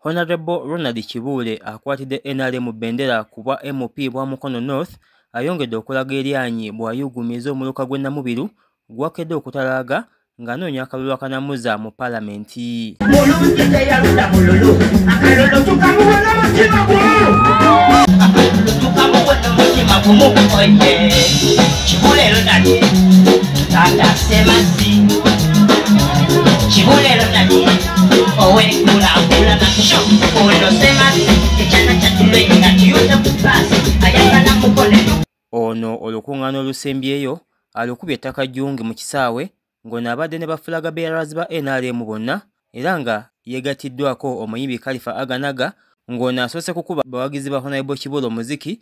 Honorable Ronald Kibuule akwatidde NRM bendera ku bwa MOP bwa Mukono North ayongedde okulaga eryanyi bw'ayuugumiza omuluka gw'e Namubiru gwakedde okutalaaga ng'anoonya akalulu akanamuzza mu palamenti. Kibulero nani ono olukuŋŋaana olusembyeyo alukubye ettaka jjungi mu kisaawe ng'ono abadde ne bafulaga bearers ba nrm bonna era nga yeegatiddwako omuyimbi kalifa aganaga ng'ono asoose kukuba bawagizi ba honaibo kibulo omuziki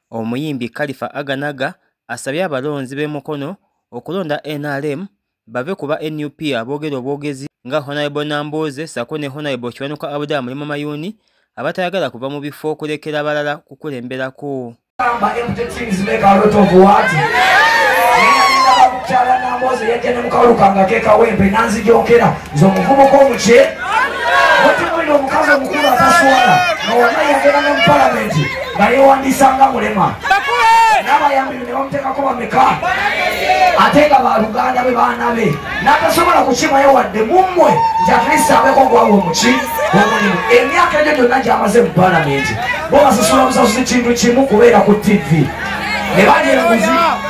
Omuyimbi Khalifa Aganaga asabye abalonzi b'e Mukono okulonda nrm bave ku ba nup aboogera obwogezi nga Honorable Nambooze ssaako ne Honorable Kiwanuka Abdallah Mulimo Mayuuni abatayagala kuva mu bifo okulekera abalala kukulemberako. nze omuvubuka omukye wetumulira omukazi omukulu ataswala nowona yageranga mu palamenti nga yewandiisa nga mulema nabayambi ne bamutekako bameka ate nga baluganda be baana be natasobola kukimayo wadde mummwe nti atlist abeko gwawe omuki omulimu emyaka egyo gyonna gyamaze mu palamenti bo basasula busasuzi kintu kimu kubeera ku tivi ne balya enguzi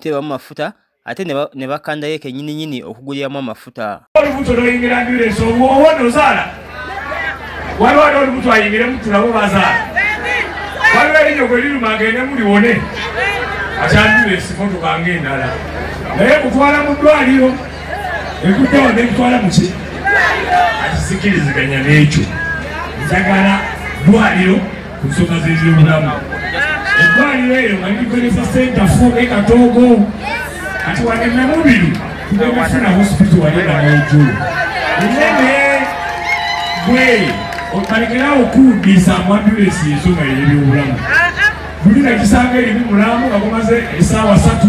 tebamu mafuta ate ne bakanda yeke nyini nyini okuguliramu amafuta olubuto noyingira ambulensi obwowo nozaala waliwo ali olubuto ayingiremu tulabo bazaala waliwo erinyo gwe liruma agende muliwone ati ambulensi motukanga endala naye kutwala mu ddwaliro ekuddawo nekutwala muki akisikiriziganya n'ekyo njagala ddwaliro ku nsonga z'ebyobulamu eddwaliro eyo nga likozesa senta fu e katoogo kati wane namubiru tugenda funa hospital wali nga nayejulu enene gwe okalekerawo kuwuddiisa amwambulesi ensonga yeebyobulamu buli nga kisanga erimu mulamu nga gumaze esaawa satu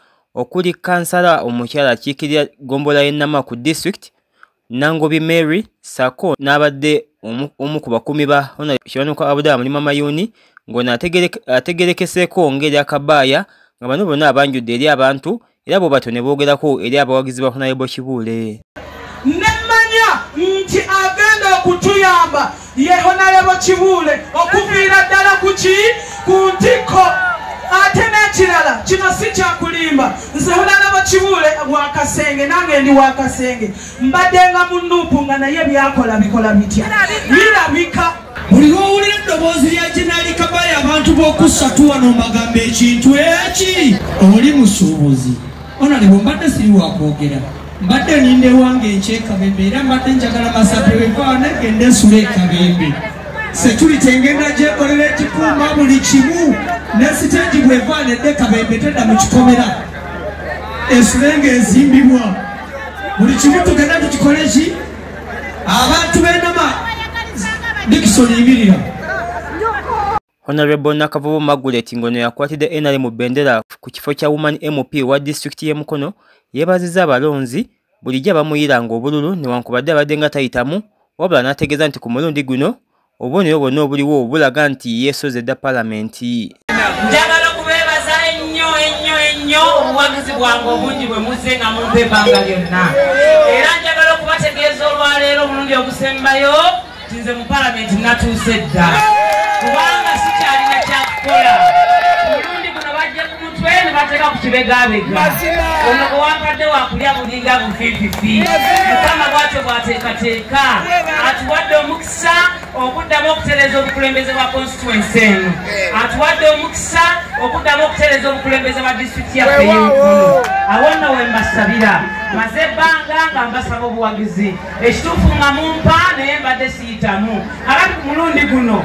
okuli kansala omukyala akiikirira ggombolola y'e Nama ku disitulikiti Nangobi Mary ssaako n'abadde omu ku bakuumi ba Hon. Kiwanuka Abdallah Mulima Mayuuni ng'ono ategerekeseeko ng'eri akabaaya nga bano bonna abanjudde eri abantu era bwe batyo ne boogerako eri abawagizi ba Hon. Kibuule. nemmanya nti agenda okutuyamba yehonalebo kibuule okuviira ddala kuki ku ntikko ate n'ekirala kino si kyakulimba nze honalebo kibuule wakasenge nange ndi wakasenge mbaddenga mu nuupu nga naye byakola bikola bitya birabika buli lwowulira eddoboozi lya jenaali kabale abantu b'okussatu wano mbagambo ekintu eki oli musuubuzi Honorable mbadde siri wakwogera mbadde ninda ewange enkya ekabembe era mbadde njagala masape wevaa negenda ensula ekabembe security engenda gyekolera ekikuuma buli kimu ne siteegi bwevaa nedde kabembe tedda mu kikomera ensula nga ezimbibwa buli kimu tugenda tukikole ki abantu benama dikisoni ibirira Honorable Nakavubu Margaret ngono yakwatidde NRM bendera ku kifo kya Woman MP wa disitulikiti y'e Mukono yeebazizza abalonzi bulijjo abamuyiranga obululu newankubadde abadde nga tayitamu wabula n'ategeeza nti ku mulundi guno obubonero bwonna obuliwo bulaga nti yeesoze dda palamenti njagala okubeebaza ennyo ennyo ennyo obuwagizi bwange obungi bwe muzze nga mumpa ebbanga lyonna era njagala okubategeeza olwaleero omulundi ogusembayo nze mu palamenti natuuse dda kubanga sikyalina kyakukola mulundi guno bajja ku mutwe ne bateeka ku kibegabega ono gwewankadde wakulya bulinga bufififi mukama bwatyo bwateekateeka atuwadde omukisa okuddamu okutereeza obukulembeze bwa constituensi eno atuwadde omukisa okuddamu okutereeza obukulembeze bwa disitulikiti yaffe yenkulu awo nno wembasabira maze ebbanga nga mbasaba obuwagizi ekituufu nga mumpa naye mbadde siyitamu abati ku mulundi guno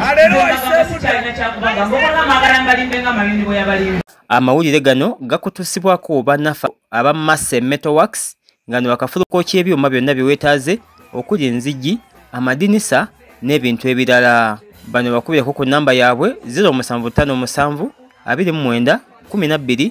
sikyalina kyakubanga mbokola magala mbalimbe nga malindi bwe yabalimba amawulire gano gakutusibwako banafa aba masse metowax nga ne bakafuluka okyebyuma byonna byewetaaze okuli enzigi amadinisa n'ebintu ebirala bano bakubireko ku namba yaabwe 0757 29 12